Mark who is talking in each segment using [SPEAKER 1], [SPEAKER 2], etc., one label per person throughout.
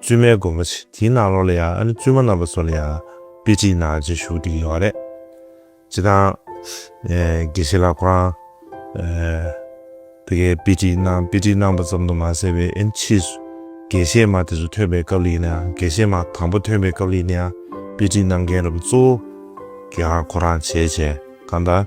[SPEAKER 1] བཙུན་མའི་དགོན་པ་ཆེ་དེའི་ནང་ལོགས་ལ་ཡང་ཨ་ནེ་བཙུན་མ་རྣམ་པ་ཚོ་ལ་ཡང་དཔེ་ཁྲིད་ནང་བཞིན་བཞུགས་འདུག་ཡོད་རེད། སྤྱིར་བཏང། དགེ་བཤེས་ལགས་ཁོ་རང། དེ་གའི་དཔེ་ཁྲིད་ནང་དཔེ་ཁྲིད་གནང་པ་ཙམ་དུ་མ་ཟད་པའི་ཨེན་ཕྱིས་སུ་དགེ་བཤེས་མ་དེ་ཚོ་ཐོན་པའི་སྐབས་ལ་ཡིན་ན་ཡང་དགེ་བཤེས་མ་དང་པོ་ཐོན་པའི་སྐབས་ལ་ཡིན་ན་ཡང་དཔེ་ཁྲིད་གནང་མཁན་རབས་གཙོ་བོ་ཀྱང་ཁོ་རང་བྱས་བྱས་གང་ལྟར།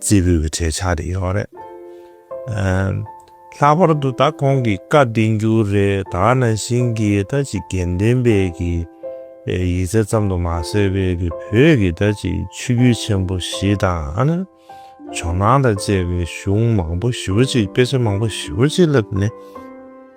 [SPEAKER 1] རྩེད་འབུད་ཀྱི་གྲས་ཆགས་རེ་ཡོང་རེད། ལྷག་པར་དུ་ད་ཁོང་གིས་བཀའ་བསྟན་རྒྱུ་རེ་ད་ནང་བཞིན་གྱི་ད་ཅི་དགེ་འདུན་པའི་གི་ཡིག་ཚད་ཙམ་དུ་མ་ཟད་པའི་གི་བོད་ཀྱི་ད་ཅི་ཆོས་བརྒྱུད་ཆེན་པོ་བཞི་དང། ཇོ་ནང་དང་བཅས་པའི་གཞུང་མང་པོ་བཞི་བ་ཅིག་དཔེ་ཆ་མང་པོ་བཞི་བ་ཅིག་བསླེབས་ནས།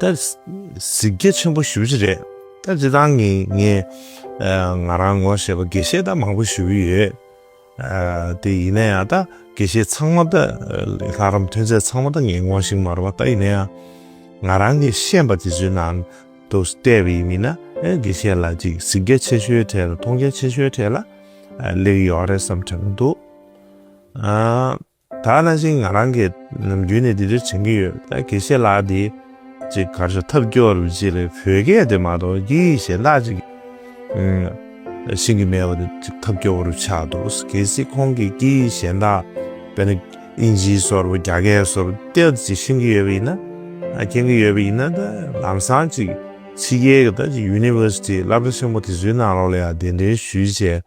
[SPEAKER 1] ད། གཟིགས་རྒྱ་ཆེན་པོ་ཞུ་རྒྱུ་རེད། ད་འདི་དང་ངེད་ངེད། ང་རང་ངོ་ཞེས་པ་དགེ་བཤེས་ད་མང་པོ་ཞུ་གི་ཡོད། དེ་ཡིན་ན་ཡང་ད་དགེ་བཤེས་ཚང་མ་ད། ལྷ་རམས་ཐོན་རྫས་ཚང་མ་ད་ངེད་ངོ་ཞིག་མ་རེད་བ་ད་ཡིན་ན་ཡང། ང་རང་གི་ཤེས་པ་དེ་ཚོའི་ནང་དུ་བལྟས་པ་ཡིན་མིན་ན་དགེ་བཤེས་ལ་ཅིག་གཟིགས་རྒྱ་ཆེ་ཤོས་གྲས་ལ་མཐོང་རྒྱ་ཆེ་ཤོས་གྲས་ལ། ལེགས་ཡོད་རེད་བསམ་གྱི་མི་འདུག། ད་ནང་བཞིན་ང་རང་གིས་ནམ་རྒྱུན་ནས་འདི་འདྲ་དྲན་གྱི་ཡོད། ད་དགེ་བཤེས་ལགས་འདི་ཅིག་གར་ཞོག་ཐབས་སྐྱོར་ཅིག་ལས་བོད་སྐད་དེ་མ་གཏོགས་ཀྱི་གཞན་དག་ཅིག་ཤེས་ཀྱི་མེད་པ་དེ་ཅིག་ཐབས་སྐྱོ་བོ་རུ་ཆགས་འདུག་གལ་སྲིད་ཁོང་གིས་ཀྱི་གཞན་དག་དཔེར་ན་དབྱིན་ཇིའི་སོར་བུ་རྒྱ་སྐད་སོར་ཏེལ་ཅིག་ཤེས་ཀྱི་ཡོད་པ་ཡིན་ན་མཁྱེན་གྱི་ཡོད་པ་ཡིན་ན་ད་ལམ་སང་ཅིག་ཕྱི་རྒྱལ་གྱི་ད་ཅིག University བསླབ་གྲྭ་ཆེན་མོ་དེ་ཚོའི་ནང་ལོགས་ལ་ཡང་གདན་འདྲེན་ཞུས་བྱས་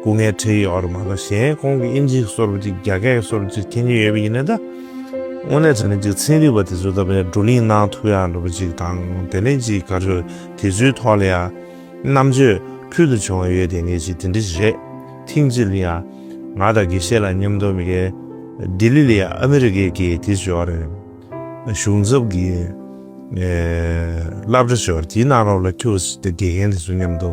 [SPEAKER 1] སྐུ་ངལ་འཕྲད་ཡོད་རེད་མ་གཏོགས་གཞན་ཁོང་གི་དབྱིན་ཇི་གསོལ་བ་ཅིག་རྒྱ་སྐད་གསོལ་བ་ཅིག་མཁྱེན་ཉེན་ཡོད་པ་ཡིན་ན་ད། དངོས་གནས་དྲ་གནས་ཅིག་ཚན་རིག་པ་དེ་ཚོའི་ལྟ་བའི་བགྲོ་གླིང་གནང་ཐུབ་ཡག་འགྲོ་བ་ཅིག་དང་དེ་ནས་ཅིག་ག་རེ་དེ་ཚོའི་ཐོག་ལ་ཡང་རྣམ་དཔྱོད་ཕུལ་དུ་བྱུང་བ་ཡོད་དེ་ངས་ཅིག་དེ་འདྲ་ཞིག་རེད་ཐིང་ཅིག་ཡང་ང་དང་དགེ་བཤེས་ལ་མཉམ་དུ་མི་ག་ལྡི་ལི་ལ་ཡང་ཨ་མི་རི་ཀའི་དགེ་དེ་ཞོར་རེད་གཞུང་ཚབ་ཀྱི་བསླབ་གྲྭ་ཞོར་དེའི་ནང་རོགས་ལ་ཁྱོད་དགེ་རྒན་དེ་ཚོ་མཉམ་དུ།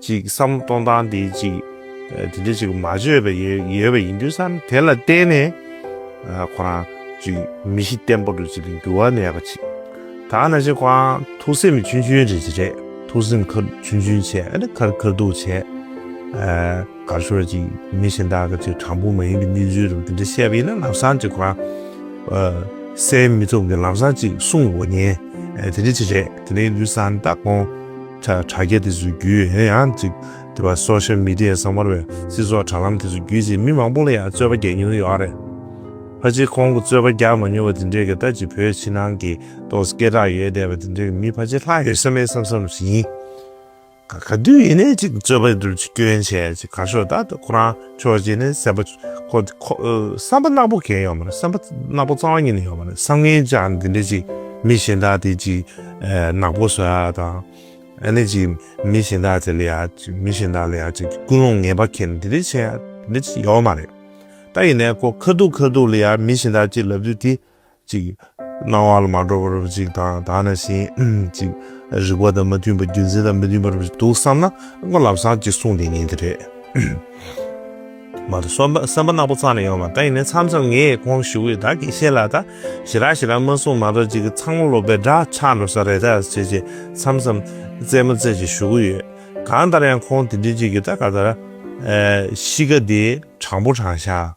[SPEAKER 1] ཅིག་བསམ་བློ་གཏོང་སྟངས་དེ་ཅིག་དེ་འདྲ་ཅིག་མ་བཅོས་པ་ཡོད་པ་ཡིན་དུས་བསམ་དེ་ལ་བརྟེན་ནས་ཁོ་རང་ཅིག་མི་གཞི་བརྟན་པོ་རུ་ཅིག་འགྱུར་བ་མེད་པ་ཅིག་དང་ན་ཅིག་ཁོ་རང་ཐུགས་སེམས་ཆུང་ཆུང་རེ་ཅིག་རེད་ཐུགས་སེམས་ཁ་ཆུང་ཆུང་བྱས་ཨ་ནི་ཁར་ཁར་འདུག་བྱས་ག་ཤོར་ཅིག་མི་གཞན་དག་གི་ཅིག་དྲང་པོ་མ་ཡིན་པའི་གནས་ཚུལ་རུ་དེ་འདྲ་བཤད་པ་ཡིན་ན་ལམ་སང་ཅིག་ཁོ་རང་སེམས་མི་ཚུགས་མཁན་ལམ་སང་ཅིག་སྲུང་དགོས་ཉེན་དེ་འདྲ་ཅིག་རེད་དེ་འདྲ་ཡིན་དུས་བསམ་ད་ཁོང། དྲ་རྒྱ་དེ་ཚོའི་བརྒྱུད་ཡང་ཡང་གཅིག་དེ་བ Social Media གསང་བར་བའི་སྤྱི་ཚོགས་དྲ་ལམ་དེ་ཚོའི་བརྒྱུད་གཅིག་མི་མང་པོ་ལ་ཡང་རྩོད་པ་རྒྱག་མྱོང་ཡོད་ཨ་རེད། ཕ་གཅིག་ཁོང་གི་རྩོད་པ་རྒྱག་མ་མྱོང་བ་དེ་འདྲའི་གི་ད་ཅི་བོད་ཕྱི་ནང་གི་ཏོག་སྐད་གྲགས་ཡོད་བསྡད་པ་དེ་འདྲའི་གི་མི་ཕ་གཅིག་ལྷག་ཡོད་ས་མེད་བསམ་བསམ་བཞིན། ག་ག་དུས་ཡིན་ནས་གཅིག་རྩོད་པ་དེ་ཚོར་གཅིག་སྐྱོན་བྱས་གཅིག་གར་ཤོག་ད་ཁོ་རང་ཆོས་རྗེ་ནི་བསམ་པ་བསམ་པ་རྣག་པོ་གས་ཡོད་མ་རེད་བསམ་པ་རྣག་པོ་གཙང་བ་ཉིད་ནས་ཡོད་མ་རེད་བསམ་ངན་ཅག་འདི་འདྲས་ཅིག་མི་གཞན་དག་དེ་ཅིག་ནག་པོ་བཟོ་ཡག་དང། ཨ་ནི་ཅིག་མི་གཞན་དག་དེ་ལ་ཡག་མི་གཞན་དག་ལ་ཡག་ཅིག་ཀུན་སློང་ངན་པ་ཁེར་འདི་འདྲས་བྱས་ཡག་འདི་འདྲས་ཅིག་ཡོད་མ་རེད། ད་ཡིན་ནས་ཁོ་ཁ་ཐུག་ཁ་ཐུག་ལ་ཡག་མི་གཞན་དག་ཅིག་ལབ་དུས་དེ། ཅིག། སྣང་བ་ལ་མ་གྲོལ་བར་ཅིག་དང་དག་ན་བཞིན་ཅིག། རིག་པ་དང་མི་མཐུན་པ་རྒྱུ་མཚན་དང་མི་མཐུན་པར་འདུག་བསམ་ན་སྔོན་ལམ་སངས་ཀྱི་གསུང་དེ་ཉིད་རེད། མ་དང་སེམས་པ་སེམས་པ་སྣ་བུག་ཚང་ནས་ཡོང་བ་ད་ཡིན་ནས་མཚམས་མཚམས་ངས་གོང་བཞུགས་བས་དག་གིས་ཤེས་ལགས་ད། ཞེ་རག་ཞེ་རག་སྨོན་གསུང་མ་གཏོགས་ཅིག་གི་ཚང་མ་ལོག་པའི་འདྲ་ཆགས་ནོར་ས་རེད་ད་ཅེས་ཅེས་མཚམས་མཚམས་རྩེད་མོ་རྩེ་ཅིག་བཞུགས་ཀྱི་ཡོད། གང་ལྟར་ཡང་ཁོང་དེ་འདྲི་ཅིག་གི་ད་ག་ད་ར། གཤིས་ཀ་དེ་དྲང་པོ་དྲང་ཤག་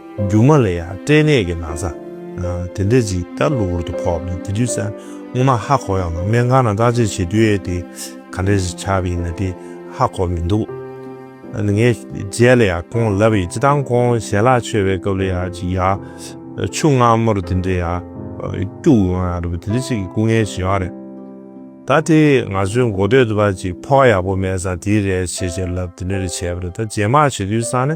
[SPEAKER 1] རྒྱུ་མ་ལ་ཡང་སྐྲན་ནད་ཀྱི་ན་བཟའ་དེ་འདྲ་ཅིག་ལྟ་གློ་བུར་དུ་ཕོག་ནས་དེ་དུས་སྔོ་མ་ཧ་གོ་ཡང་ནང་སྨན་ཁང་ནང་བརྟག་དཔྱད་བྱེད་དུས་ཨེ་དེ་ག་འདྲ་ཞིག་ཆགས་པ་ཡིན་ན་དེ་ཧ་གོ་མི་འདུག་ངས་རྗེས་ལ་ཡང་ཁོང་ལབ་ཡིན་སྤྱི་སྟངས་ཁོང་ཞལ་ལག་མཆོད་པའི་སྐབས་ལ་ཡང་ཅིག་ཡར་ཆུ་སྔ་མོར་དེ་འདྲ་ཡར་སྐྱུག་ཡོང་ཡང་རེད་པ་དེ་འདྲ་ཅིག་གི་སྐུ་ངལ་བྱུང་ཡང་རེད། ད་དེ་ང་ཚོའི་མགོ་སྟོད་དུ་བ་ཅིག་ཕོ་ཁ་ཡག་པོ་མེད་སར་དེའི་རེད་བྱེད་བྱེད་ལབ་དེ་འདྲ་རེད་བྱས་པ་རེད་ད་རྗེས་མར་བྱེད་དུས་སང་ནི།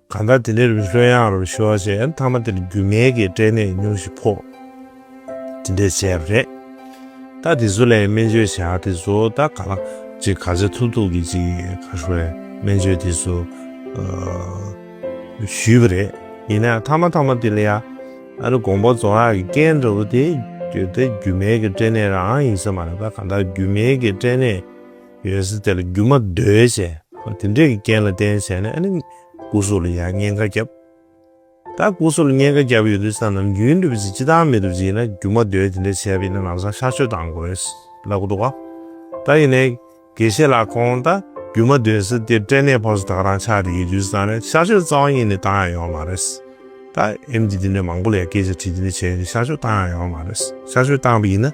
[SPEAKER 1] གང་ལྟར་དེ་འདྲའི་རི་ལྷོད་ཡངས་རུ་ཤོར་རྗེས་མཐའ་མ་དེར་རྒྱུ་མེད་ཀྱི་སྐྲན་ནད་ཉུང་ཞིག་ཕོག། དེ་འདྲས་བྱས་པ་རེད། ད་དེ་ཚོ་ལས་སྨན་བཅོས་བྱ་དེ་ཚོ་ད་ག་ལ། ཅིག་ག་ཚད་ཐུབ་ཐུབ་ཀྱིས་ཅིག་ག་ཧྲུལ་བའི་སྨན་བཅོས་དེ་ཚོ། ཞུས་པ་རེད། ཡིན་ནའང་མཐའ་མ་མཐའ་མ་དེ་ལ་ཡང། ཨ་རི་གོང་པོ་རྫོང་ཡག་གི་སྐད་འདྲ་བོ་དེ། ད་རྒྱུ་མེད་ཀྱི་སྐྲན་ནད་རང་ཡིན་ས་མ་རེད་ད་གང་ལྟར་རྒྱུ་མེད་ཀྱི་སྐྲན་ནད། ཡོད་ས་དེ་ལ་རྒྱུ་མ་བརྡོལ་བྱས། དེ་འདྲས་ཀྱི་རྐྱེན་ལ་བརྟེན་བྱས་ནས་ཨ་ནི་སྐུ་གཟུགས་ལ་ཡང་བརྙན་ཁ་བརྒྱབ། ད་སྐུ་གཟུགས་ལ་བརྙན་ཁ་བརྒྱབ་ཡོད་དུས་ས་ནམ་རྒྱུན་འགྲུབ་ཅིག་ཅི་ཐང་མི་འགྲུབ་ཅིག་ཡིན་ན་རྒྱུ་མ་བརྡོལ་དེ་འདྲས་བྱས་པ་ཡིན་ན་ལམ་སང་ཤར་ཆོས་བཏང་དགོས་ལབ་ཀི་འདུག་ག། ད་ཡིན་ནའི་དགེ་བཤེས་ལགས་ཁོང་ད་རྒྱུ་མ་བརྡོལ་ས་དེ་སྐྲན་ནད་ཕོག་ས་དག་རང་ཆགས་དེ་ཡོད་དུས་ས་ནི་ཤར་ཆོས་རྩ་བ་ཉིད་ནས་བཏང་ཡང་ཡོང་བ་མ་རེད། ད་ཨེམ་ཆི་དེ་འདྲས་མང་པོ་ལ་ཡང་སྐད་ཆ་དྲིས་དེ་འདྲས་བྱས་ཡོད་དུས་ཤར་ཆོས་བཏང་ཡང་ཡོང་བ་མ་རེད། ཤར་ཆོས་བཏང་པ་ཡིན་ན།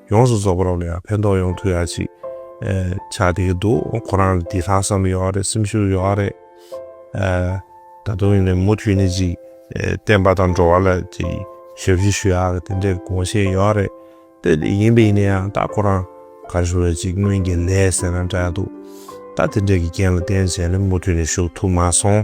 [SPEAKER 1] ཡོངས་སུ་རྫོགས་པ་རབ་ལ་ཡང་ཕན་ཐོགས་ཡོང་ཐུག་ཡ་ཅིག་བྱ་བསྡད་ཀྱི་འདུག་ཁོ་རང་ལ་དེ་ལྷག་བསམ་ཡོད་རེད་སེམས་ཤུགས་ཡོད་རེད། ད་དུང་ཡིན་ནའི་མུ་མཐུད་ནས་ཅིག་བསྟན་པ་དང་འགྲོ་བ་ལ་ཅིག་ཞབས་ཕྱི་ཞུ་ཡ་གི་དེ་འདྲའི་དགོངས་བཞེད་ཡོད་རེད། ད་དེ་ཡིན་པ་ཡིན་ནའི་ཡང་ད་ཁོ་རང་གར་ཞུགས་ལ་ཅིག་སྔོན་གྱི་ལས་ཟེར་ན་འདྲ་ཡ་འདུག་ད་དེ་འདྲའི་གི་རྐྱེན་ལ་བརྟེན་བྱས་ནས་མུ་མཐུད་ནས་ཞུགས་ཐུབ་མ་སོང།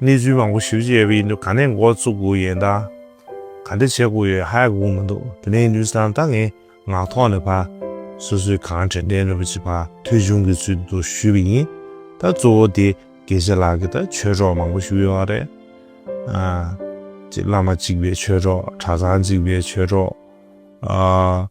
[SPEAKER 1] གནས་ཚུལ་མང་པོ་ཞིབ་ཅེས་ཡིན་འདུག་ག་ནས་འགོ་བཙུགས་དགོས་ཡོད་ད། ག་འདྲ་བྱེད་དགོས་ཡོད་ཧ་ཡག་གོ་མི་འདུག་དེ་ནས་ནུས་སམ་ད་ངས་ངག་ཐོག་ནས་ཕ། སོ་སོས་གང་དྲན་དྲན་ནུས་པ་ཅིག་ཕ་ཐོས་བྱུང་གི་ཚུལ་དུ་ཞུས་པ་ཡིན། ད་གཙོ་བོ་དེ་དགེ་བཤེས་ལགས་ཀྱིས་ད་ཆོས་གྲོགས་མང་པོ་ཞུས་ཡོད་བ་རེད། བླ་མ་གཅིག་པའི་ཆོས་གྲོགས་གྲྭ་ཚང་གཅིག་པའི་ཆོས་གྲོགས།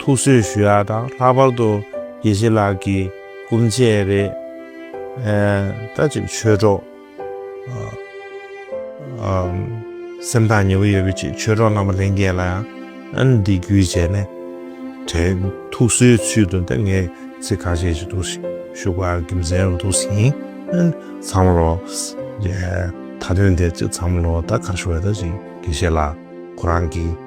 [SPEAKER 1] ཐུགས་གསོས་ཞུ་ཡག་དང་ལྷག་པར་དུ་དགེ་བཤེས་ལགས་ཀྱི་སྐུ་མཆད་རེད་ད་ཅིག་ཆོས་གྲོགས་སེམས་ཐག་ཉེ་བོ་ཡོད་པའི་ཅིག་ཆོས་གྲོགས་རྣམ་པ་ལྷན་རྒྱས་ལ་ཡང་འདི་བརྒྱུད་བྱས་ནས་དྲན་ཐུགས་གསོའི་ཚུལ་དུ་འདི་ངས་ཚིག་ཁ་ཤས་ཞིག་ཏུ་ཞུགས་པ་དགེ་མཚན་རུ་འདུག་ཟིན་ཚང་མ་ལོ་ད་དོན་དེ་ཚང་མ་ལོ་ད་ག་ཤོ་བས་ད་ཅིག་དགེ་བཤེས་ལགས་ཁོ་རང་གི།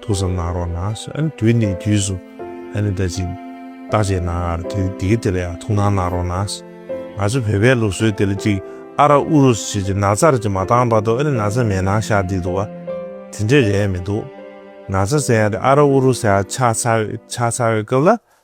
[SPEAKER 1] ཐུགས་བསམ་གནང་རོགས་གནང་ཟེར་ཨ་ནི་དུས་ནས་དུས་སུ་ཨ་ནི་ད་ཅིག་བདག་ཅེས་གནང་ཨ་ར་དེ་དེ་དེ་ལ་ཡང་ཐུགས་སྣང་གནང་རོགས་གནང་ཟེར་ང་ཚོ་བོད་པའི་ལུགས་སྲོལ་དེ་ལ་ཅིག་ཨ་ར་ཨུ་རུ་སུ་བྱས་ཅིག་ན་ཚར་ཅིག་མ་བཏང་བར་དུ་ཨ་ནི་ན་ཚ་མེད་ནང་ཤར་འདི་འདུག་ཨ་དེ་འདྲས་རེད་མི་འདུག་ན་ཚ་ཟེར་ཡང་དེ་ཨ་ར་ཨུ་རུ་སུ་ཡང་ཆགས་ཚར་ཆགས་ཚར་བའི་སྐབས་ལ